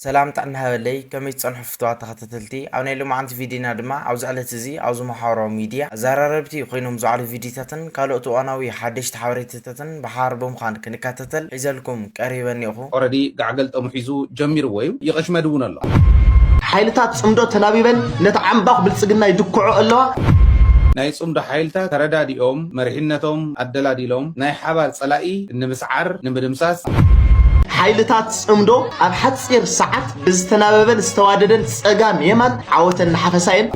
ሰላም ጥዕና ሃበለይ ከመይ ትጸንሑ ፍትዋት ተኸታተልቲ ኣብ ናይ ሎማዓንቲ ቪድይና ድማ ኣብዚ ዕለት እዚ ኣብዚ ማሓበራዊ ሚድያ ኣዛራረብቲ ኮይኖም ዝውዓሉ ቪድይታትን ካሎኦት እዋናዊ ሓደሽቲ ሓበሬታታትን ብሓባር ብምዃን ክንካታተል ሒዘልኩም ቀሪበ እኔኹ። ኦረዲ ጋዕ ገልጠሙ ሒዙ ጀሚርዎ እዩ ይቕሽመድ እውን ኣሎ። ሓይልታት ጽምዶ ተላቢበን ነቲ ዓምባኽ ብልጽግና ይድክዖ ኣለዋ። ናይ ጽምዶ ሓይልታት ተረዳዲኦም መሪሕነቶም ኣደላዲሎም ናይ ሓባር ጸላኢ ንምስዓር፣ ንምድምሳስ፣ ሓይልታት ጽምዶ ኣብ ሓጺር ሰዓት ብዝተናበበን ዝተዋደደን ጸጋም የማን ዓወተን እናሓፈሳ እየን።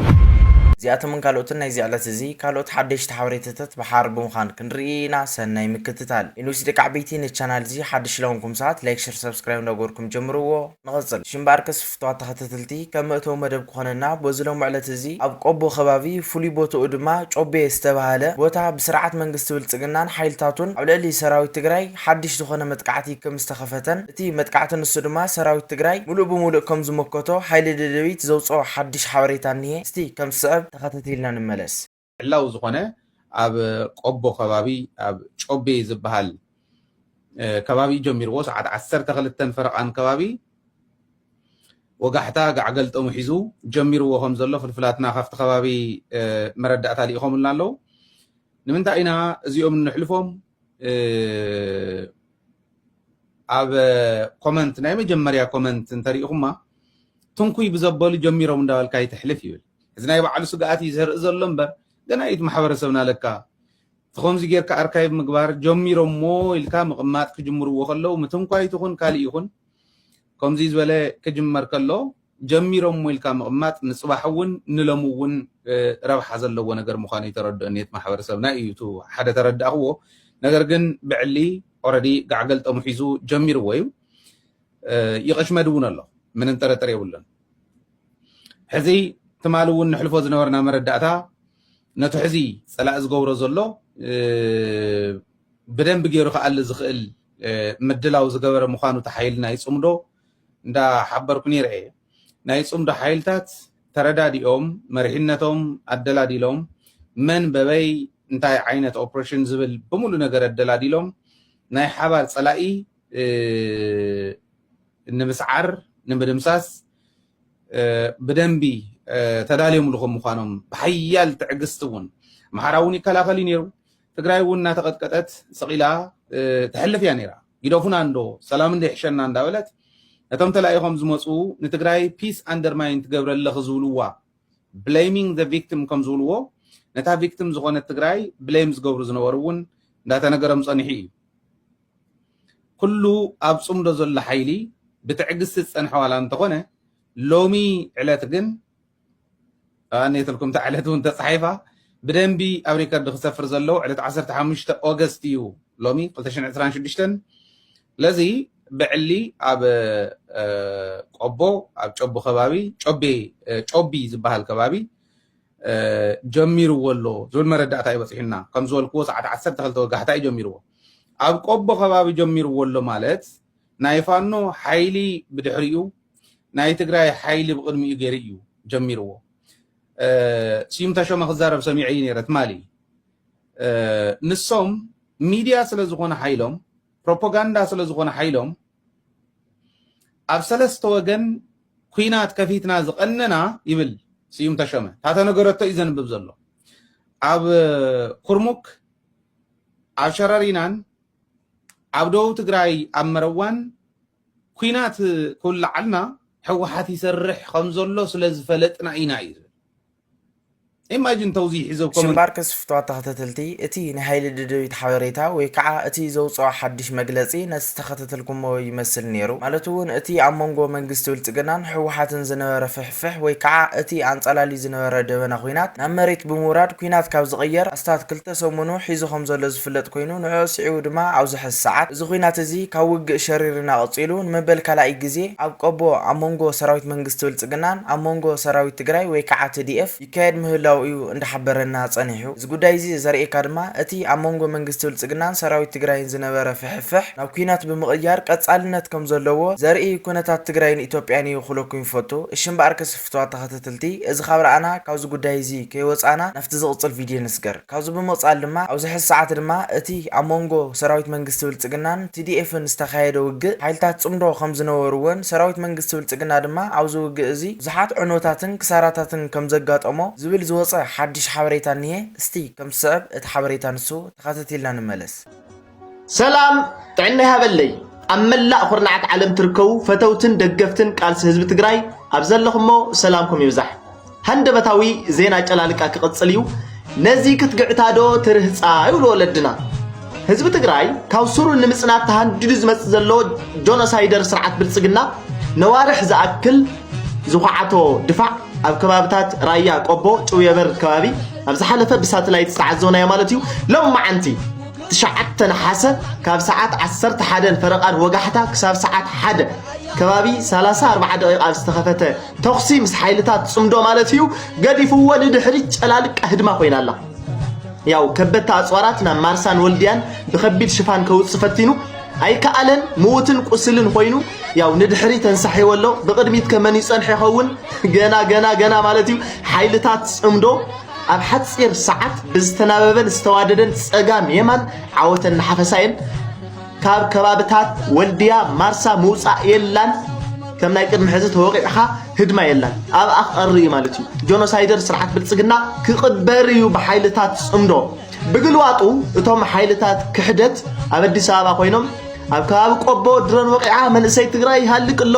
እዚኣቶምን ካልኦትን ናይዚ ዕለት እዚ ካልኦት ሓደሽቲ ሓበሬታታት ብሓባር ብምዃን ክንርኢ ኢና ሰናይ ምክትታል። Inus ደቂ ዓበይቲ ነዚ ቻናል እዚ ሓድሽ ለኾንኩም ሰባት ላይክ ሸር ሳብስክራይብ እንዳገበርኩም ጀምርዎ። ንቕጽል። ሽምባርከስ ፍቱዋት ተኸታተልቲ ከም መእተዊ መደብ ክኾነና በዚ ሎሚ ዕለት እዚ ኣብ ቆቦ ከባቢ ፍሉይ ቦትኡ ድማ ጮቤ ዝተባህለ ቦታ ብስርዓት መንግስቲ ብልጽግናን ሓይልታቱን ኣብ ልዕሊ ሰራዊት ትግራይ ሓድሽ ዝኾነ መጥቃዕቲ ክም ዝተኸፈተን እቲ መጥቃዕቲ ንሱ ድማ ሰራዊት ትግራይ ሙሉእ ብሙሉእ ከም ዝሞከቶ ሓይሊ ደደቢት ዘውጽኦ ሓድሽ ሓበሬታ እኒሀ እስቲ ከም ዝስዕብ ተኸታቲልና ንመለስ። ዕላዊ ዝኾነ ኣብ ቆቦ ከባቢ ኣብ ጮቤ ዝበሃል ከባቢ ጀሚርዎ ሰዓት ዓሰርተ ክልተን ፈረቓን ከባቢ ወጋሕታ ጋዕ ገልጠሙ ሒዙ ጀሚርዎ ከም ዘሎ ፍልፍላትና ካብቲ ከባቢ መረዳእታ ልኢኾምልና ኣለዉ ንምንታይ ኢና እዚኦም ንሕልፎም ኣብ ኮመንት ናይ መጀመርያ ኮመንት እንተሪኢኹማ ትንኩይ ብዘበሉ ጀሚሮም እንዳበልካ ይትሕልፍ ይብል እዚ ናይ ባዕሉ ስግኣት እዩ ዘርኢ ዘሎ እምበር ገና እዩ እቲ ማሕበረሰብና ለካ እቲ ከምዚ ጌርካ ኣርካይቭ ምግባር ጀሚሮሞ ኢልካ ምቕማጥ ክጅምርዎ ከለዉ ምትንኳይት ይኹን ካልእ ይኹን ከምዚ ዝበለ ክጅመር ከሎ ጀሚሮሞ ኢልካ ምቕማጥ ንፅባሕ እውን ንለሙ እውን ረብሓ ዘለዎ ነገር ምዃኑ እዩ ተረድኦ ኔት ማሕበረሰብና እዩ እቲ ሓደ ተረዳእኽዎ ነገር ግን ብዕሊ ኦረዲ ጋዕገልጠሙ ሒዙ ጀሚርዎ እዩ ይቐሽመድ እውን ኣሎ ምንም ጥርጥር የብሉን ሕዚ ትማሊ እውን ንሕልፎ ዝነበርና መረዳእታ ነቲ ሕዚ ፀላእ ዝገብሮ ዘሎ ብደንብ ገይሩ ክኣሊ ዝኽእል ምድላው ዝገበረ ምዃኑ እቲ ሓይሊ ናይ ፅምዶ እንዳሓበርኩ ነይረ እየ ናይ ፅምዶ ሓይልታት ተረዳዲኦም መሪሕነቶም ኣደላዲሎም መን በበይ እንታይ ዓይነት ኦፕሬሽን ዝብል ብምሉ ነገር ኣደላዲሎም ናይ ሓባር ፀላኢ ንምስዓር ንምድምሳስ ብደንቢ ተዳልዮምሉ ከም ምዃኖም ብሓያል ትዕግስቲ እውን ኣምሓራ እውን ይከላኸል እዩ ነይሩ። ትግራይ እውን እናተቐጥቀጠት ሰቒላ ተሕልፍ እያ ነይራ። ግደፉና እንዶ ሰላም እንዶ ይሕሸና እንዳበለት ነቶም ተላኢኾም ዝመፁ ንትግራይ ፒስ ኣንደርማይን ትገብረ ኣለኺ ዝብልዋ ብሌሚንግ ዘ ቪክቲም ከም ዝብልዎ ነታ ቪክቲም ዝኾነት ትግራይ ብሌም ዝገብሩ ዝነበሩ እውን እንዳተነገሮም ፀኒሑ እዩ። ኩሉ ኣብ ጽምዶ ዘሎ ሓይሊ ብትዕግስቲ ዝጸንሐ ዋላ እንተኾነ ሎሚ ዕለት ግን ኣንየትልኩም እታ ዕለት እውን ተጻሒፋ ብደንቢ ኣብ ሪከርድ ክሰፍር ዘለዎ ዕለት 15 ኦገስት እዩ ሎሚ 226 ስለዚ ብዕሊ ኣብ ቆቦ ኣብ ጨቡ ከባቢ ጮቤ ጮቢ ዝበሃል ከባቢ ጀሚርዎ ኣሎ ዝብል መረዳእታ ይበፅሑና ከም ዝበልክዎ ሰዓት 12 ወጋሕታ እዩ ጀሚርዎ ኣብ ቆቦ ከባቢ ጀሚርዎ ኣሎ ማለት ናይ ፋኖ ሓይሊ ብድሕሪኡ ናይ ትግራይ ሓይሊ ብቕድሚኡ ገይሩ እዩ ጀሚርዎ። ስዩም ተሾመ ክዛረብ ሰሚዐ እዩ ነይረ ትማሊ። ንሶም ሚድያ ስለ ዝኾነ ሓይሎም ፕሮፓጋንዳ ስለ ዝኾነ ሓይሎም ኣብ ሰለስተ ወገን ኩናት ከፊትና ዝቐነና ይብል ስዩም ተሾመ ታተነገረቶ እዩ ዘንብብ ዘሎ ኣብ ኩርሙክ ኣብ ሸረሪናን ኣብ ደቡብ ትግራይ ኣብ መረዋን ኩናት ክውላዓልና ሕወሓት ይሰርሕ ከም ዘሎ ስለ ዝፈለጥና ኢና እዩ ኢማጂን ተውዚሒ ዘብ ኮመንት ሽምባርክስ ፍትዋት ተኸተተልቲ እቲ ናይ ሃይሊ ደደቢት ሓበሬታ ወይ ካዓ እቲ ዘውጽኦ ሓድሽ መግለጺ ነቲ ዝተኸተተልኩሞ ይመስል ኔሩ ማለት ውን እቲ ኣብ መንጎ መንግስቲ ብልጽግናን ህወሓትን ዝነበረ ፍሕፍሕ ፍሕ ወይ ከዓ እቲ ኣንፀላልዩ ዝነበረ ደበና ኹናት ናብ መሬት ብምውራድ ኲናት ካብ ዝቕየር ኣስታት ክልተ ሰሙኑ ሒዙ ከምዘሎ ዝፍለጥ ኮይኑ ንዕዑ ስዒቡ ድማ ኣብዚ ሐዚ ሰዓት እዚ ኹናት እዚ ካብ ውግእ ሸሪርና ቐፂሉ ንመበል ካልኣይ ግዜ ኣብ ቆቦ ኣብ መንጎ ሰራዊት መንግስቲ ብልፅግናን ኣብ መንጎ ሰራዊት ትግራይ ወይ ከዓ tdf ይካየድ ምህላዉ እዩ እንዳሓበረና ጸኒሑ። እዚ ጉዳይ እዚ ዘርእየካ ድማ እቲ ኣብ መንጎ መንግስቲ ብልጽግናን ሰራዊት ትግራይን ዝነበረ ፍሕፍሕ ናብ ኩናት ብምቕያር ቀጻልነት ከም ዘለዎ ዘርኢ ኩነታት ትግራይን ኢትዮጵያን እዩ ክብለኩም ይፈቱ። እሺ እምበኣርከስ ፍቱዋት ተኸተተልቲ እዚ ካብ ረኣና ካብዚ ጉዳይ እዚ ከይወጻእና ናብቲ ዝቕጽል ቪድዮ ንስገር። ካብዚ ብምቕፃል ድማ ኣብዚ ሕዚ ሰዓት ድማ እቲ ኣብ ሞንጎ ሰራዊት መንግስቲ ብልፅግናን TDFን ዝተኻየደ ውግእ ሓይልታት ፅምዶ ከምዝነበርዎን ሰራዊት መንግስቲ ብልፅግና ድማ ኣብዚ ውግእ እዚ ብዙሓት ዕንወታትን ክሳራታትን ከምዘጋጠሞ ዝብል ዝወፀ ሓዱሽ ሓበሬታ እኒሀ። እስቲ ከምዝስዕብ እቲ ሓበሬታ ንሱ ተኸታቲልና ንመለስ። ሰላም ጥዕና ይሃበለይ ኣብ መላእ ኩርናዓት ዓለም ትርከቡ ፈተውትን ደገፍትን ቃልሲ ህዝቢ ትግራይ ኣብ ዘለኹሞ ሰላምኩም ይብዛሕ ሃንደበታዊ ዜና ጨላልቃ ክቕፅል እዩ ነዚ ክትግዕታ ዶ ትርህፃ ይብሉ ወለድና ህዝቢ ትግራይ ካብ ሱሩ ንምፅናት ተሃንዲዱ ዝመፅ ዘሎ ጆኖሳይደር ስርዓት ብልፅግና ነዋርሕ ዝኣክል ዝኳዓቶ ድፋዕ ኣብ ከባብታት ራያ ቆቦ ጭውየበር ከባቢ ኣብ ዝሓለፈ ብሳተላይት ዝተዓዘብናዮ ማለት እዩ ሎም መዓንቲ ትሽዓተ ነሓሰ ካብ ሰዓት ዓሰርተ ሓደን ፈረቓን ወጋሕታ ክሳብ ሰዓት ሓደ ከባቢ ሰላሳ ኣርባዓ ደቂቕ ኣብ ዝተኸፈተ ተኹሲ ምስ ሓይልታት ጽምዶ ማለት እዩ ገዲፍዎ ንድሕሪት ጨላልቃ ህድማ ኮይና ኣላ ያው ከበድቲ ኣፅዋራት ናብ ማርሳን ወልድያን ብከቢድ ሽፋን ከውፅእ ፈቲኑ ኣይከኣለን ምውትን ቁስልን ኮይኑ ያው ንድሕሪ ተንሳሒዎ ኣሎ ብቅድሚት ከመን ይፀንሐ ይኸውን ገና ገና ገና ማለት እዩ ሓይልታት ፅምዶ ኣብ ሓጺር ሰዓት ብዝተናበበን ዝተዋደደን ጸጋም የማን ዓወተን እናሓፈሳ እየን ካብ ከባብታት ወልድያ ማርሳ ምውጻእ የላን ከም ናይ ቅድሚ ሕዚ ተወቂዕኻ ህድማ የላን ኣብኣ ክቐሪ እዩ ማለት እዩ ጆኖሳይደር ስርዓት ብልጽግና ክቕበር እዩ ብሓይልታት ጽምዶ ብግልባጡ እቶም ሓይልታት ክሕደት ኣብ ኣዲስ ኣበባ ኮይኖም ኣብ ከባቢ ቆቦ ድሮን ወቂዓ መንእሰይ ትግራይ ይሃልቅ ኣሎ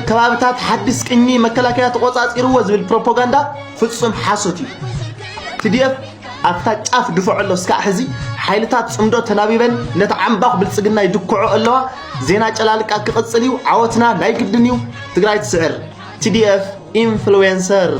ከባብታት ሓዲስ ቅኚ መከላከያ ተቆፃፂርዎ ዝብል ፕሮፓጋንዳ ፍፁም ሓሶት እዩ ትድኤፍ ኣብታ ጫፍ ድፍዖ ኣሎ እስካዕ ሕዚ ሓይልታት ፅምዶ ተናቢበን ነቲ ዓምባኽ ብልፅግና ይድክዖ ኣለዋ ዜና ጨላልቃ ክቕፅል እዩ ዓወትና ናይ ግድን እዩ ትግራይ ትስዕር ቲዲኤፍ ኢንፍሉዌንሰር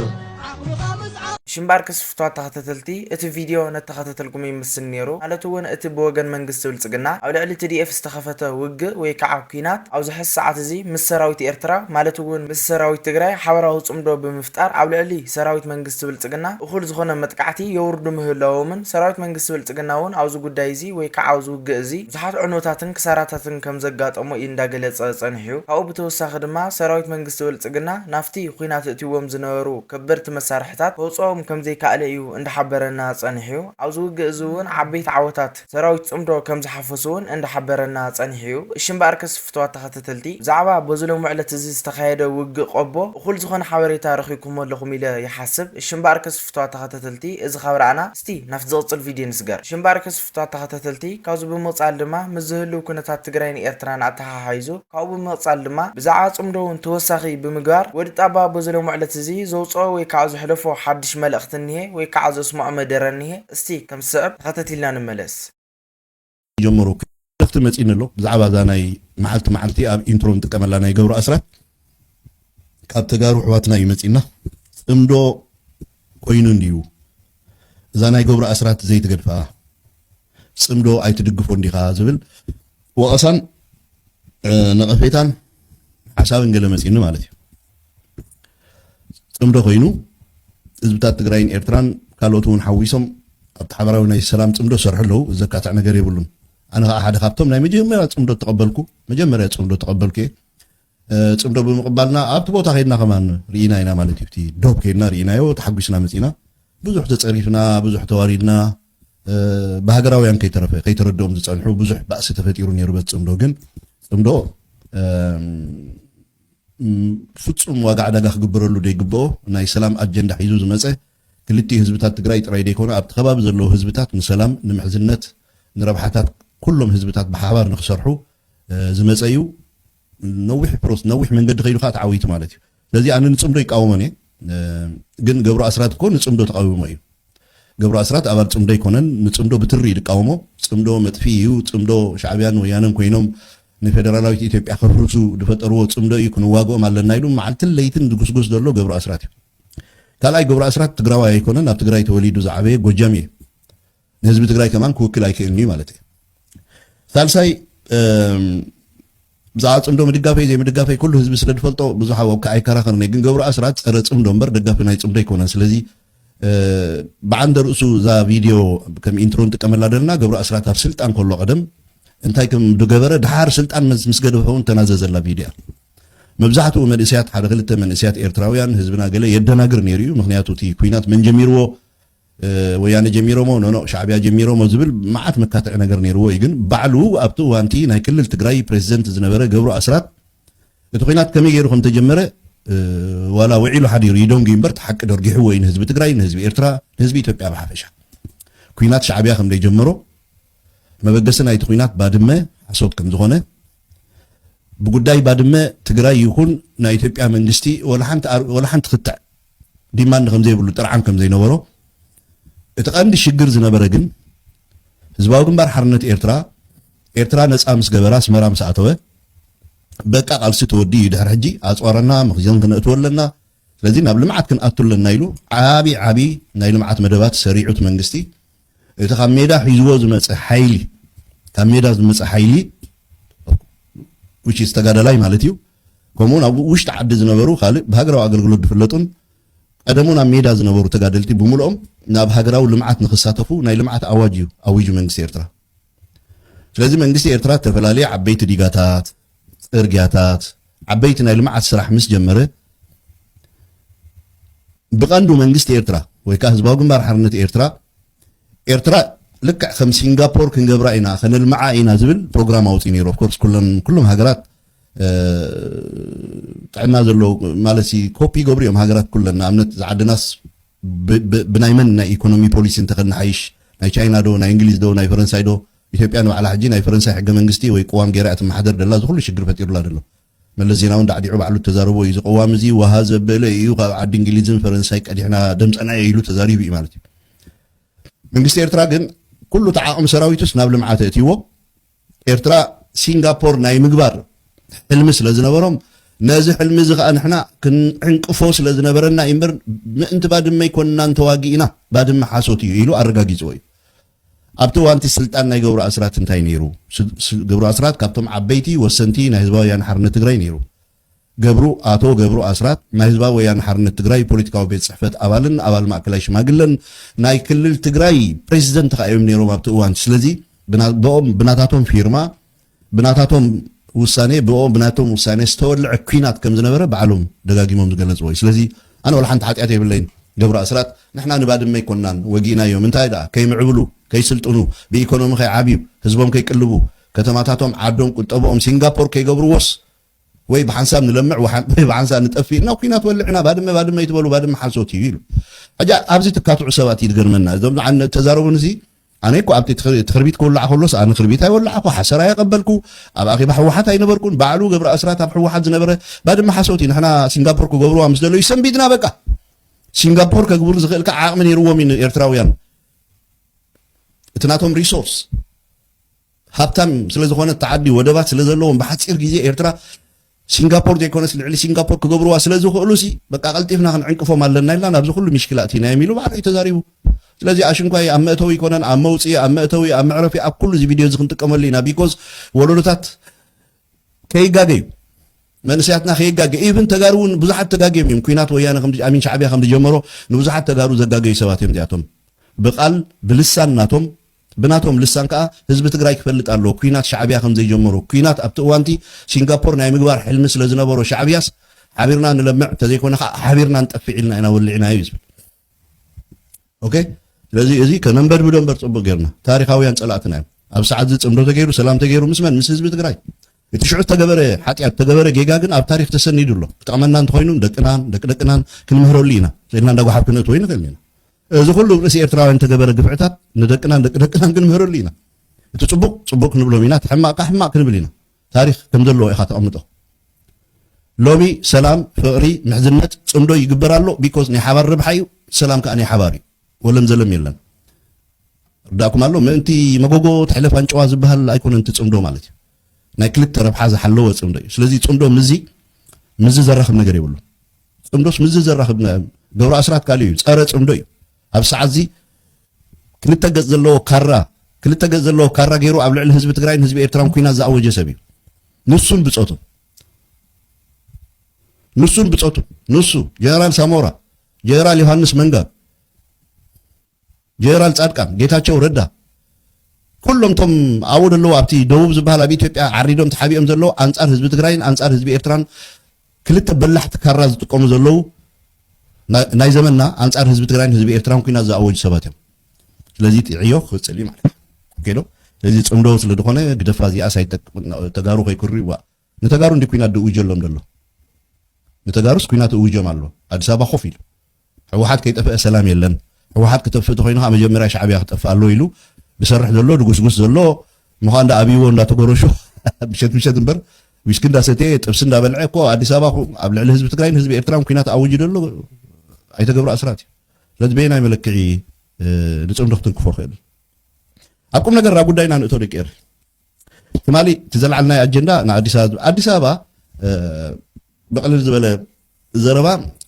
ሽምባር ክስፍቷት ተኸተተልቲ እቲ ቪድዮ ነተኸተተልኩም ይምስል ኔሩ ማለት እውን እቲ ብወገን መንግስቲ ብልፅግና ኣብ ልዕሊ ትዲኤፍ ዝተኸፈተ ውግእ ወይ ከዓ ኩናት ኣብዚ ሐዚ ሰዓት እዚ ምስ ሰራዊት ኤርትራ ማለት እውን ምስ ሰራዊት ትግራይ ሓበራዊ ፅምዶ ብምፍጣር ኣብ ልዕሊ ሰራዊት መንግስቲ ብልፅግና እኹል ዝኾነ መጥቃዕቲ የውርዱ ምህላዎምን ሰራዊት መንግስቲ ብልፅግና እውን ኣብዚ ጉዳይ እዚ ወይ ከዓ ኣብዚ ውግእ እዚ ብዙሓት ዕንወታትን ክሳራታትን ከም ዘጋጠሞ ኢዩ እንዳገለጸ ጸኒሑ። ካብኡ ብተወሳኺ ድማ ሰራዊት መንግስቲ ብልጽግና ናብቲ ኹናት እእትይዎም ዝነበሩ ከበድቲ መሳርሕታት ከውጽኦም ከም ዘይካኣለ ኢዩ እንዳሓበረና ጸኒሑ። ኣብዚ ውግእ እዚ እውን ዓበይቲ ዓወታት ሰራዊት ጽምዶ ከም ዝሓፈሱ እውን እንዳሓበረና ጸኒሑ ኢዩ። እሺ እምበኣርከስ ፍቱዋት ተኸተተልቲ ብዛዕባ በዚ ሎሚ ዕለት እዚ ዝተኻየደ ውግእ ቆቦ እኹል ዝኾነ ሓበሬታ ረኺብኩሞ ኣለኹም ኢለ ይሓስብ። እሺ እምበኣርከስ ፍቱዋት ተኸተተልቲ እዚ ካብ ረኣና እስቲ ናብቲ ዝቕጽል ቪድዮ ንስገር። ሽምባር ክስፍቷት ተኸታተልቲ፣ ካብዚ ብምቕጻል ድማ ምስ ዝህልው ኩነታት ትግራይን ኤርትራን ኣተሓሓይዙ፣ ካብኡ ብምቕጻል ድማ ብዛዕባ ጽምዶውን ተወሳኺ ብምግባር፣ ወዲ ጣባ በዚ ሎሚ ዕለት እዚ ዘውጽኦ ወይ ካዓ ዘሕለፎ ሓድሽ መልእኽቲ እኒሀ ወይ ካዓ ዘስመዖ መደረ እኒሀ። እስቲ ከምዚ ዝስዕብ ተኸታቲልና ንመለስ። ጀምሩ መልእኽቲ መጺኒ ኣሎ ብዛዕባ እዛ ናይ መዓልቲ መዓልቲ ኣብ ኢንትሮ ንጥቀመላ ናይ ገብሩ ኣስራት ካብ ተጋሩ ኣሕዋትና እዩ መጺና ጽምዶ ኮይኑ እንድዩ እዛ ናይ ገብሩ ኣስራት ዘይትገድፋ ጽምዶ ኣይትድግፎ እንዲኻ ዝብል ወቐሳን ነቐፌታን ሓሳብን ገለ መጺኒ ማለት እዩ ፅምዶ ኮይኑ ህዝብታት ትግራይን ኤርትራን ካልኦት እውን ሓዊሶም ኣብቲ ሓበራዊ ናይ ሰላም ፅምዶ ዝሰርሑ ኣለዉ። እዚ ዘካትዕ ነገር የብሉን። ኣነ ከዓ ሓደ ካብቶም ናይ መጀመርያ ፅምዶ ተቐበልኩ መጀመርያ ፅምዶ ተቐበልኩ እየ። ፅምዶ ብምቕባልና ኣብቲ ቦታ ከይድና ከማን ርኢና ኢና ማለት እዩ። እቲ ዶብ ከይድና ርኢናዮ ተሓጒስና መፂና። ብዙሕ ተፀሪፍና፣ ብዙሕ ተዋሪድና ብሃገራውያን ከይተረፈ ከይተረድኦም ዝፀንሑ ብዙሕ ባእሲ ተፈጢሩ ነይሩ። በት ፅምዶ ግን ፅምዶ ፍፁም ዋጋ ዕዳጋ ክግበረሉ ዘይግበኦ ናይ ሰላም ኣጀንዳ ሒዙ ዝመፀ ክልቲኡ ህዝብታት ትግራይ ጥራይ ዘይኮነ ኣብቲ ከባቢ ዘለዉ ህዝብታት ንሰላም፣ ንምሕዝነት፣ ንረብሓታት ኩሎም ህዝብታት ብሓባር ንክሰርሑ ዝመፀ እዩ። ነዊሕ ፕሮስ ነዊሕ መንገዲ ከይዱ ከዓ ተዓዊቱ ማለት እዩ። ስለዚ ኣነ ንፅምዶ ይቃወሞን እየ። ግን ገብሩ ኣስራት እኮ ንፅምዶ ተቓዊሞ እዩ። ገብሩ ኣስራት ኣባል ፅምዶ ኣይኮነን ንፅምዶ ብትሪ እዩ ድቃወሞ ፅምዶ መጥፍኢ እዩ ፅምዶ ሻዕብያን ወያነን ኮይኖም ንፌደራላዊት ኢትዮጵያ ከፍርሱ ድፈጠርዎ ፅምዶ እዩ ክንዋግኦም ኣለና ኢሉ መዓልትን ለይትን ድጉስጉስ ዘሎ ገብሩ ኣስራት እዩ ካልኣይ ገብሩ ኣስራት ትግራዋይ ኣይኮነን ኣብ ትግራይ ተወሊዱ ዝዓበየ ጎጃም እዩ ንህዝቢ ትግራይ ከማን ክውክል ኣይክእልን እዩ ማለት እዩ ሳልሳይ ብዛዕባ ጽምዶ ምድጋፈይ ዘይምድጋፈይ ኩሉ ህዝቢ ስለ ዝፈልጦ ብዙሕ ኣብካ ኣይከራኸርን እየ ግን ገብሩ ኣስራት ጸረ ጽምዶ እምበር ደጋፊ ናይ ጽምዶ ኣይኮነን ስለዚ ብዓንደ ርእሱ እዛ ቪድዮ ከም ኢንትሮ ንጥቀመላ ዘለና ገብሩ ኣስራት ኣብ ስልጣን ከሎ ቀደም እንታይ ከም ዝገበረ ድሓር ስልጣን ምስ ገደፈ እውን ተናዘዘላ ቪድዮ እያ መብዛሕትኡ መንእስያት ሓደ ክልተ መንእስያት ኤርትራውያን ህዝብና ገለ የደናግር ነይሩ እዩ ምክንያቱ እቲ ኩናት መን ጀሚርዎ ወያነ ጀሚሮሞ ኖኖእ ሻዕቢያ ጀሚሮሞ ዝብል መዓት መካትዒ ነገር ነይርዎ እዩ ግን ባዕሉ ኣብቲ እዋንቲ ናይ ክልል ትግራይ ፕሬዚደንት ዝነበረ ገብሩ ኣስራት እቲ ኩናት ከመይ ገይሩ ከም ተጀመረ ዋላ ውዒሉ ሓዲሩ ይደንጉ እምበር እቲ ሓቂ ደርጊሕዎ እዩ ንህዝቢ ትግራይ ንህዝቢ ኤርትራ ንህዝቢ ኢትዮጵያ ብሓፈሻ ኩናት ሻዕቢያ ከም ዘይጀመሮ መበገሲ ናይቲ ኩናት ባድመ ሓሶት ከም ዝኾነ ብጉዳይ ባድመ ትግራይ ይኹን ናይ ኢትዮጵያ መንግስቲ ወላ ሓንቲ ክትዕ ዲማንድ ከምዘይብሉ ጥርዓን ከምዘይነበሮ እቲ ቀንዲ ሽግር ዝነበረ ግን ህዝባዊ ግንባር ሓርነት ኤርትራ ኤርትራ ነጻ ምስ ገበረ ኣስመራ ምስ ኣተወ በቃ ቃልሲ ተወዲኡ እዩ ድሕሪ ሕጂ ኣጽዋረና መኽዘን ክነእትወ ኣለና ስለዚ ናብ ልምዓት ክንኣቱ ኣለና ኢሉ ዓቢ ዓቢ ናይ ልምዓት መደባት ሰሪዑ እቲ መንግስቲ እቲ ካብ ሜዳ ሒዝዎ ዝመፀ ሓይሊ ካብ ሜዳ ዝመፀ ሓይሊ ውሽስ ተጋዳላይ ማለት እዩ ከምኡውን ኣብ ውሽጢ ዓዲ ዝነበሩ ካልእ ብሃገራዊ ኣገልግሎት ዝፍለጡን ቀደሙን ኣብ ሜዳ ዝነበሩ ተጋደልቲ ብምልኦም ናብ ሃገራዊ ልምዓት ንክሳተፉ ናይ ልምዓት ኣዋጅ እዩ ኣዊጁ መንግስቲ ኤርትራ። ስለዚ መንግስቲ ኤርትራ እተፈላለየ ዓበይቲ ዲጋታት፣ ጽርግያታት፣ ዓበይቲ ናይ ልምዓት ስራሕ ምስ ጀመረ ብቐንዱ መንግስቲ ኤርትራ ወይ ከዓ ህዝባዊ ግንባር ሓርነት ኤርትራ ኤርትራ ልክዕ ከም ሲንጋፖር ክንገብራ ኢና ከነልምዓ ኢና ዝብል ፕሮግራም ኣውፅኡ ነይሩ ኦፍኮርስ ኩሎም ሃገራት ጥዕና ዘለዎ ማለትሲ ኮፒ ይገብሩ እዮም ሃገራት ኩለን ንኣብነት እዛ ዓድናስ ብናይ መን ናይ ኢኮኖሚ ፖሊሲ እንተኸናሓይሽ ናይ ቻይና ዶ ናይ እንግሊዝ ዶ ናይ ፈረንሳይ ዶ ኢትዮጵያ ንባዕላ ሕጂ ናይ ፈረንሳይ ሕገ መንግስቲ ወይ ቅዋም ገይራ እያ ትመሓደር ደላ እዚ ኩሉ ሽግር ፈጢሩላ ደሎ መለስ ዜናውን ዳዕዲዑ ባዕሉ እተዛረቦ እዩ እዚ ቅዋም እዚ ዋሃ ዘበለ እዩ ካብ ዓዲ እንግሊዝን ፈረንሳይ ቀዲሕና ደምፀና እየ ኢሉ ተዛሪቡ እዩ ማለት እዩ መንግስቲ ኤርትራ ግን ኩሉ ተዓቕሚ ሰራዊቱስ ናብ ልምዓት እእትይዎ ኤርትራ ሲንጋፖር ናይ ምግባር ሕልሚ ስለ ዝነበሮም ነዚ ሕልሚ እዚ ከኣ ንሕና ክንዕንቅፎ ስለ ዝነበረና እዩ እምበር ምእንቲ ባድመ ኣይኮንናን ተዋጊእና ባድመ ሓሶት እዩ ኢሉ ኣረጋጊጽዎ እዩ ኣብቲ እዋንቲ ስልጣን ናይ ገብሩ ኣስራት እንታይ ነይሩ ገብሩ ኣስራት ካብቶም ዓበይቲ ወሰንቲ ናይ ህዝባዊ ወያነ ሓርነት ትግራይ ነይሩ ገብሩ፣ ኣቶ ገብሩ ኣስራት ናይ ህዝባዊ ወያነ ሓርነት ትግራይ ፖለቲካዊ ቤት ፅሕፈት ኣባልን ኣባል ማእከላይ ሽማግለን ናይ ክልል ትግራይ ፕሬዚደንት ኸዓ እዮም ነይሮም ኣብቲ እዋን እቲ ስለዚ ብኦም ብናታቶም ፊርማ ብናታቶም ውሳኔ ብኦም ብናቶም ውሳኔ ዝተወልዐ ኩናት ከም ዝነበረ ባዕሎም ደጋጊሞም ዝገለፅዎ እዩ ስለዚ ኣነ ዋላ ሓንቲ ሓጢኣት የብለይን ገብሩ ኣስራት ንሕና ንባድመ ኣይኮናን ወጊእናዮም እንታይ ደኣ ከይምዕብሉ ከይስልጥኑ ብኢኮኖሚ ከይዓብዩ ህዝቦም ከይቅልቡ ከተማታቶም ዓዶም ቁጠብኦም ሲንጋፖር ከይገብርዎስ ወይ ብሓንሳብ ንለምዕ ወይ ብሓንሳብ ንጠፍእ ኢልና ኩናት ወሊዕና ባድመ ባድመ ይትበሉ ባድመ ሓሶት እዩ ኢሉ ሕጂ ኣብዚ ትካትዑ ሰባት እዩ ዝገርመና እዞም ዝዓነ ተዛረቡን እዚ ኣነ እኮ ኣብቲ ትክርቢት ክውላዕ ከሎስ ኣነ ክርቢት ኣይወላዕኩ ሓሰር ኣየቐበልኩ ኣብ ኣኼባ ሕወሓት ኣይነበርኩን ባዕሉ ገብረ ኣስራት ኣብ ሕወሓት ዝነበረ ባድመ ሓሶት እዩ ንሕና ሲንጋፖር ክገብርዋ ምስ ደለዩ ሰንቢድና በቃ ሲንጋፖር ከግብሩ ዝኽእልካ ዓቕሚ ነይርዎም እዩ ኤርትራውያን እቲ ናቶም ሪሶርስ ሃብታም ስለ ዝኾነት እታ ዓዲ ወደባት ስለ ዘለዎም ብሓጺር ግዜ ኤርትራ ሲንጋፖር ዘይኮነስ ልዕሊ ሲንጋፖር ክገብርዋ ስለ ዝኽእሉ ሲ በቃ ቀልጢፍና ክንዕንቅፎም ኣለና ኢልና ናብዚ ኩሉ ምሽክላ ኣቲናዮም ኢሉ ባዕሉ እዩ ተዛሪቡ ስለዚ ኣሽንኳይ ኣብ መእተዊ ይኮነን ኣብ መውፅኢ ኣብ መእተዊ ኣብ መዕረፊ ኣብ ኩሉ እዚ ቪድዮ እዚ ክንጥቀመሉ ኢና ቢኮዝ ወለዶታት ከይጋገ እዩ መንእሰያትና ከይጋገ ኢብን ተጋሩ እውን ብዙሓት ተጋግዮም እዮም ኩናት ወያነ ኣሚን ሻዕብያ ከም ዝጀመሮ ንብዙሓት ተጋሩ ዘጋገዩ ሰባት እዮም እዚኣቶም ብቃል ብልሳን ናቶም ብናቶም ልሳን ከኣ ህዝቢ ትግራይ ክፈልጥ ኣለዎ ኩናት ሻዕብያ ከምዘይጀመሩ። ኩናት ኣብቲ እዋንቲ ሲንጋፖር ናይ ምግባር ሕልሚ ስለዝነበሮ ሻዕብያስ ሓቢርና ንለምዕ ተዘይኮነ ከኣ ሓቢርና ንጠፍዕ ኢልና ኢና ወሊዕና እዩ ዝብል። ኦኬ ስለዚ እዚ ከነንበድብዶ እምበር ጽቡቅ ጌርና። ታሪኻውያን ጸላእትና እዮም። ኣብ ሰዓትዚ ጽምዶ ተገይሩ ሰላም ተገይሩ ምስ መን ምስ ህዝቢ ትግራይ። እቲ ሽዑ ዝተገበረ ሓጢኣት ዝተገበረ ጌጋ ግን ኣብ ታሪኽ ተሰኒዱ ኣሎ። ክጠቕመና እንተኾይኑ ንደቅናን ደቂ ደቅናን ክንምህረሉ ኢና ኢልና እንዳ ጎሓፍ ክንእትዎ ኣይንኽእልን ኢና። እዚ ኩሉ ብ ርእሲ ኤርትራውያን እተገበረ ግፍዕታት ንደቅናን ደቂ ደቅናን ክንምህረሉ ኢና። እቲ ጽቡቕ ጽቡቕ ክንብሎም ኢና እቲ ሕማቕ ከኣ ሕማቕ ክንብል ኢና። ታሪኽ ከም ዘለዎ ኢኻ ተቐምጦ። ሎሚ ሰላም ፍቕሪ ምሕዝነት ጽምዶ ይግበር ኣሎ because ናይ ሓባር ረብሓ እዩ ሰላም ከኣ ናይ ሓባር እዩ ወለም ዘለም የለን። ርዳእኩም ኣሎ ምእንቲ መጎጎ ትሕለፍ ኣንጭዋ ዝበሃል ኣይኮነን እቲ ጽምዶ ማለት እዩ። ናይ ክልተ ረብሓ ዝሓለወ ጽምዶ እዩ። ስለዚ ጽምዶ ምስዚ ምስዚ ዘራኽብ ነገር የብሉን። ጽምዶስ ምስዚ ዘራኽብ ገብሩ ኣስራት ካልእ እዩ፣ ጸረ ጽምዶ እዩ። ኣብ ሰዓት እዚ ክልተ ገጽ ዘለዎ ካራ ክልተ ገጽ ዘለዎ ካራ ገይሩ ኣብ ልዕሊ ህዝቢ ትግራይን ህዝቢ ኤርትራን ኩናት ዝኣወጀ ሰብ እዩ። ንሱን ብጾቱ ንሱን ብጾቱ ንሱ ጀነራል ሳሞራ ጀነራል ዮሃንስ መንጋግ ጀነራል ፃድቃን፣ ጌታቸው ረዳ ኩሎም እቶም ኣብኡ ዘለዉ ኣብቲ ደቡብ ዝበሃል ኣብ ኢትዮጵያ ዓሪዶም ተሓቢኦም ዘለዉ ኣንፃር ህዝቢ ትግራይን ኣንፃር ህዝቢ ኤርትራን ክልተ በላሕቲ ካራ ዝጥቀሙ ዘለዉ ናይ ዘመንና ኣንፃር ህዝቢ ትግራይን ህዝቢ ኤርትራን ኩናት ዝኣወጁ ሰባት እዮም። ስለዚ እቲ ዕዮ ክቅፅል እዩ ማለት እዩ። ኦኬ ዶ? ስለዚ ፅምዶ ስለ ዝኾነ ግደፋ እዚኣስ ኣይጠቅምን ተጋሩ ከይክርዩዋ ንተጋሩ እንድዩ ኩናት ድእውጀሎም ደሎ ንተጋሩስ ኩናት እውጆም ኣሎ ኣዲስ ኣበባ ኮፍ ኢሉ ሕወሓት ከይጠፈኤ ሰላም የለን ሕወሓት ክተፍእ ተኮይኑ ከኣ መጀመርያ ሻዕብያ ክጠፍእ ኣሎዎ ኢሉ ድሰርሕ ዘሎ ድጉስጉስ ዘሎ ምዃን ዳ ኣብይዎ እንዳተጎረሹ ምሸት ምሸት እምበር ዊስኪ እንዳሰተየ ጥብሲ እንዳበልዐ እኮ ኣዲስ ኣበባ ኣብ ልዕሊ ህዝቢ ትግራይን ህዝቢ ኤርትራን ኩናት ኣውጁ ደሎ ኣይተገብሩ ኣስራት እዩ ስለዚ በየናይ መለክዒ ንፅምዶ ክትንክፎ ክእል ኣብ ቁም ነገር ኣብ ጉዳይና ንእቶ ደቂ ኤር ትማሊ እቲ ዘልዓልናዮ ኣጀንዳ ንኣዲስ ኣበባ ኣዲስ ኣበባ ብቕልል ዝበለ ዘረባ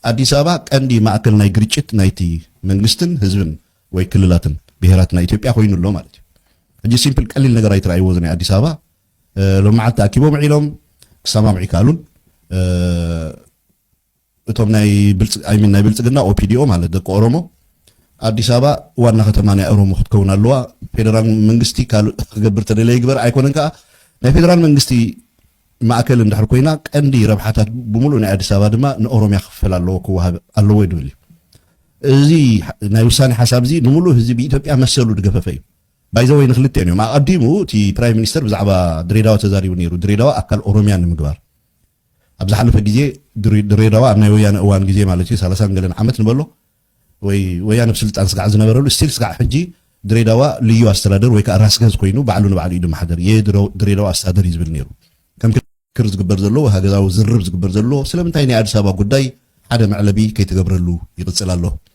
ኣዲስ ኣበባ ቀንዲ ማእከል ናይ ግርጭት ናይቲ መንግስትን ህዝብን ወይ ክልላትን ብሄራት ናይ ኢትዮጵያ ኮይኑ ኣሎ ማለት እዩ ሕጂ ሲምፕል ቀሊል ነገር ኣይትረኣይዎ እዚ ናይ ኣዲስ ኣበባ ሎሚ መዓልቲ ተኣኪቦም ውዒሎም ክሰማምዑ ይከኣሉን እቶም ናይ ብልጽ ኣይ ሚን ናይ ብልጽግና ኦፒዲኦ ማለት ደቂ ኦሮሞ ኣዲስ ኣበባ ዋና ከተማ ናይ ኦሮሞ ክትከውን ኣለዋ ፌደራል መንግስቲ ካልእ ክገብር ተደለ ይግበር ኣይኮነን ከዓ ናይ ፌደራል መንግስቲ ማእከል እንድሕር ኮይና ቀንዲ ረብሓታት ብምሉእ ናይ ኣዲስ ኣበባ ድማ ንኦሮሚያ ክፍፈል ኣለዎ ክወሃብ ኣለዎ እዩ ድብል እዩ እዚ ናይ ውሳኔ ሓሳብ እዚ ንምሉእ ህዝቢ ኢትዮጵያ መሰሉ ድገፈፈ እዩ ባይዘወይ ንክልቲኦን እዮም ኣቐዲሙ እቲ ፕራይም ሚኒስተር ብዛዕባ ድሬዳዋ ተዛሪቡ ነይሩ ድሬዳዋ ኣካል ኦሮሚያ ንምግባር ኣብ ዝሓለፈ ግዜ ድሬዳዋ ኣብ ናይ ወያነ እዋን ግዜ ማለት እዩ ሰላሳን ገለን ዓመት ንበሎ ወይ ወያነ ኣብ ስልጣን ስጋዕ ዝነበረሉ ስቲል ስጋዕ ሕጂ ድሬዳዋ ልዩ ኣስተዳደር ወይ ከዓ ራስ ገዝ ኮይኑ ባዕሉ ንባዕሉ እዩ ድመሓደር የድሬዳዋ ኣስተዳደር እዩ ዝብል ነይሩ ከም ክር ዝግበር ዘለዎ ሃገዛዊ ዝርርብ ዝግበር ዘለዎ ስለምንታይ ናይ ኣዲስ ኣበባ ጉዳይ ሓደ መዕለቢ ከይተገብረሉ ይቕፅል ኣሎ?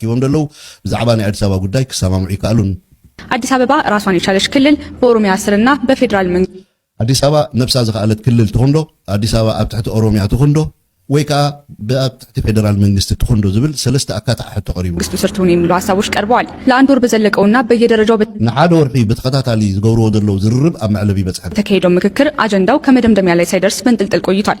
ሂቦም ደለዉ ብዛዕባ ናይ ኣዲስ ኣበባ ጉዳይ ክሰማምዑ ይከኣሉን። ኣዲስ ኣበባ ራሷን የቻለች ክልል በኦሮሚያ ስር እና በፌዴራል መንግስት ኣዲስ ኣበባ ነብሳ ዝኸኣለት ክልል ትኹን ዶ፣ ኣዲስ ኣበባ ኣብ ትሕቲ ኦሮሚያ ትኹን ዶ ወይ ከኣ ብኣብ ትሕቲ ፌደራል መንግስቲ ትኹን ዶ ዝብል ሰለስተ ኣካታዒ ሕቶ ቀሪቡ። መንግስቱ ስር ትሁን የሚሉ ሀሳቦች ቀርበዋል። ለአንድ ወር በዘለቀው እና በየደረጃው ንሓደ ወርሒ ብተኸታታሊ ዝገብርዎ ዘለዉ ዝርርብ ኣብ መዕለቢ በጽሐን። በተካሄደው ምክክር አጀንዳው ከመደምደሚያ ላይ ሳይደርስ በንጥልጥል ቆይቷል።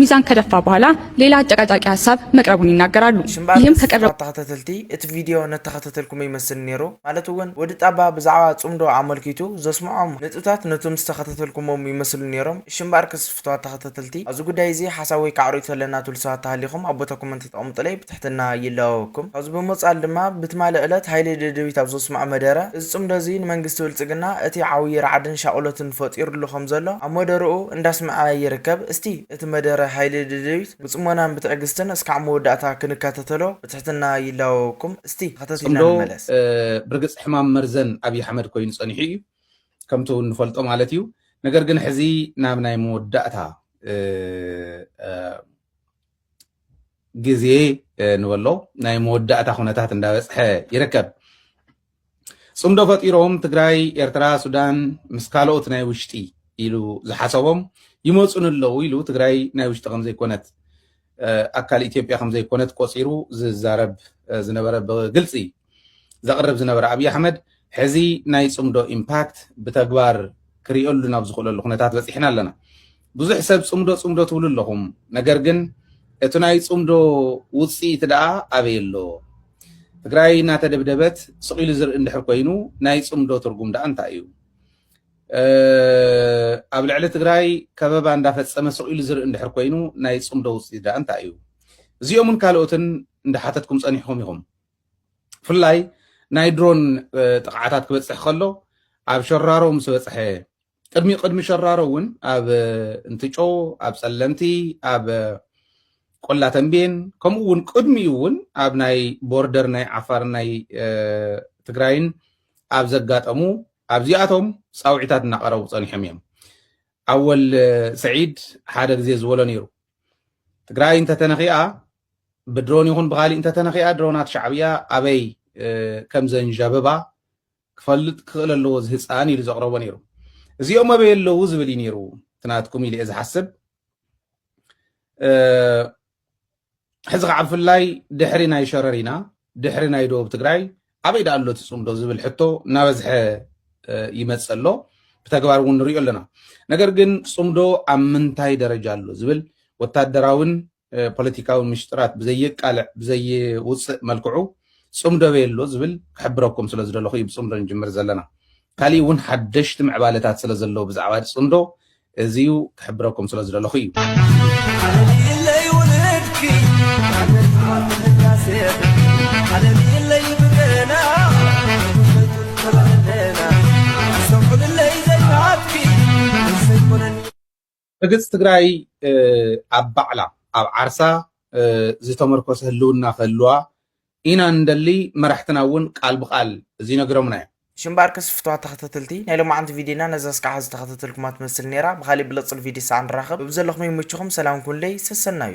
ሚዛን ከደፋ በኋላ ሌላ አጨቃጫቂ ሀሳብ መቅረቡን ይናገራሉ። ሽምባል ይህም ከቀረቡ ተስፋ ተኸተተልቲ እቲ ቪድዮ ነተኸተተልኩሞ ይመስል ኔሩ ማለት እውን ወዲ ጣባ ብዛዕባ ጽምዶ ኣመልኪቱ ዘስምዖም ንጥብታት ነቶም ዝተኸተተልኩሞም ይመስሉ ኔሮም እሺ እምበኣር ከስፍትዋ ተኸተተልቲ ኣብዚ ጉዳይ እዚ ሓሳብ ወይ ከዓ ርእይቶ ኣለና ትብሉ ሰባት ተሃሊኹም ኣብ ቦታ ኮመንት ጠቕሙጡለይ ብትሕትና ይላበወኩም። ካብዚ ብምቕጻል ድማ ብትማሊ ዕለት ሃይለ ደደቢት ኣብ ዘስምዖ መደረ፣ እዚ ጽምዶ እዚ ንመንግስቲ ብልጽግና እቲ ዓውዪ ራዕድን ሻቕሎትን ፈጢሩሉ ከም ዘሎ ኣብ መደርኡ እንዳስምዐ ይርከብ። እስቲ እቲ መደረ ሃይለ ደደቢት ብጽሞናን ብትዕግስትን እስካዕ መወዳእታ ክንከታተሎ ብትሕትና ይላበወኩም። እስቲ ተኸታቲልና ጽምዶ ንመለስ። ብርግጽ ሕማም መርዘን ኣብዪ ኣሕመድ ኮይኑ ጸኒሑ እዩ፣ ከምቲ እንፈልጦ ማለት እዩ። ነገር ግን ሕዚ ናብ ናይ መወዳእታ ግዜ ንበሎ ናይ መወዳእታ ኩነታት እንዳበፅሐ ይርከብ። ፅምዶ ፈጢሮም ትግራይ፣ ኤርትራ፣ ሱዳን ምስ ካልኦት ናይ ውሽጢ ኢሉ ዝሓሰቦም ይመፁ ንለው ኢሉ ትግራይ ናይ ውሽጢ ከምዘይኮነት ኣካል ኢትዮጵያ ከምዘይኮነት ቆፂሩ ዝዛረብ ዝነበረ ብግልፂ ዘቕርብ ዝነበረ ኣብዪ ኣሕመድ ሕዚ ናይ ፅምዶ ኢምፓክት ብተግባር ክሪኦሉ ናብ ዝኽእለሉ ኩነታት በፂሕና ኣለና። ብዙሕ ሰብ ፅምዶ ፅምዶ ትብሉ ኣለኹም፣ ነገር ግን እቲ ናይ ፅምዶ ውፅኢት ደኣ ኣበይ ኣሎ? ትግራይ እናተደብደበት ስቕ ኢሉ ዝርኢ እንድሕር ኮይኑ ናይ ፅምዶ ትርጉም ደኣ እንታይ እዩ? ኣብ ልዕሊ ትግራይ ከበባ እንዳፈፀመ ስቕ ኢሉ ዝርኢ እንድሕር ኮይኑ ናይ ፅምዶ ውፅኢት ደኣ እንታይ እዩ? እዚኦምን ካልኦትን እንዳሓተትኩም ፀኒሕኹም ኢኹም። ብፍላይ ናይ ድሮን ጥቕዓታት ክበፅሕ ከሎ ኣብ ሸራሮ ምስ በፅሐ ቅድሚ ቅድሚ ሸራሮ እውን ኣብ እንትጮ ኣብ ፀለምቲ ኣብ ቆላ ተንቤን ከምኡ እውን ቅድሚኡ እውን ኣብ ናይ ቦርደር ናይ ዓፋር ናይ ትግራይን ኣብ ዘጋጠሙ ኣብዚኣቶም ፃውዒታት እናቐረቡ ፀኒሖም እዮም ኣወል ሰዒድ ሓደ ግዜ ዝበሎ ነይሩ ትግራይ እንተተነኺኣ ብድሮን ይኹን ብኻሊእ እንተተነኺኣ ድሮናት ሻዕብያ ኣበይ ከምዘንዣብባ ክፈልጥ ክኽእል ኣለዎ እዚ ህፃን ኢሉ ዘቕረቦ ነይሩ። እዚኦም ኣበይ ኣለዉ ዝብል እዩ ነይሩ እቲ ናትኩም ኢለ እየ ዝሓስብ። ሕዚ ከዓ ብፍላይ ድሕሪ ናይ ሸረሪና ድሕሪ ናይ ደቡብ ትግራይ ኣበይ ዳኣ ኣሎ ትፅምዶ ዝብል ሕቶ እናበዝሐ ይመፅ ኣሎ ብተግባር እውን ንሪኦ ኣለና ነገር ግን ፅምዶ ኣብ ምንታይ ደረጃ ኣሎ ዝብል ወታደራዊን ፖለቲካዊ ምሽጥራት ብዘየቃልዕ ብዘይውጽእ መልክዑ ጽምዶ በየሎ ዝብል ክሕብረኩም ስለ ዝደለኹ እዩ ብጽምዶ ንጅምር ዘለና። ካሊእ እውን ሓደሽቲ ምዕባለታት ስለ ዘለዉ ብዛዕባ ጽምዶ እዚዩ ክሕብረኩም ስለ ዝደለኹ እዩ። ርግጽ ትግራይ ኣብ ባዕላ ኣብ ዓርሳ ዝተመርኮሰ ህልውና ክህልዋ ኢና ንደሊ፣ መራሕትና እውን ቃል ብቃል እዚ ነግሮምና እዮም። ሽምባርከስ ፍትዋት ተኸታተልቲ ናይ ሎማዓንቲ ቪድዮና ነዛ እስካዕ ሐዚ ተኸታተልኩማ ትመስል ነይራ ብኻሊእ ብልፅል ቪድዮ ሳዕ ንራኸብ በብዘለኹም ይምችኹም ሰላም ኩኑለይ ሰሰናዩ።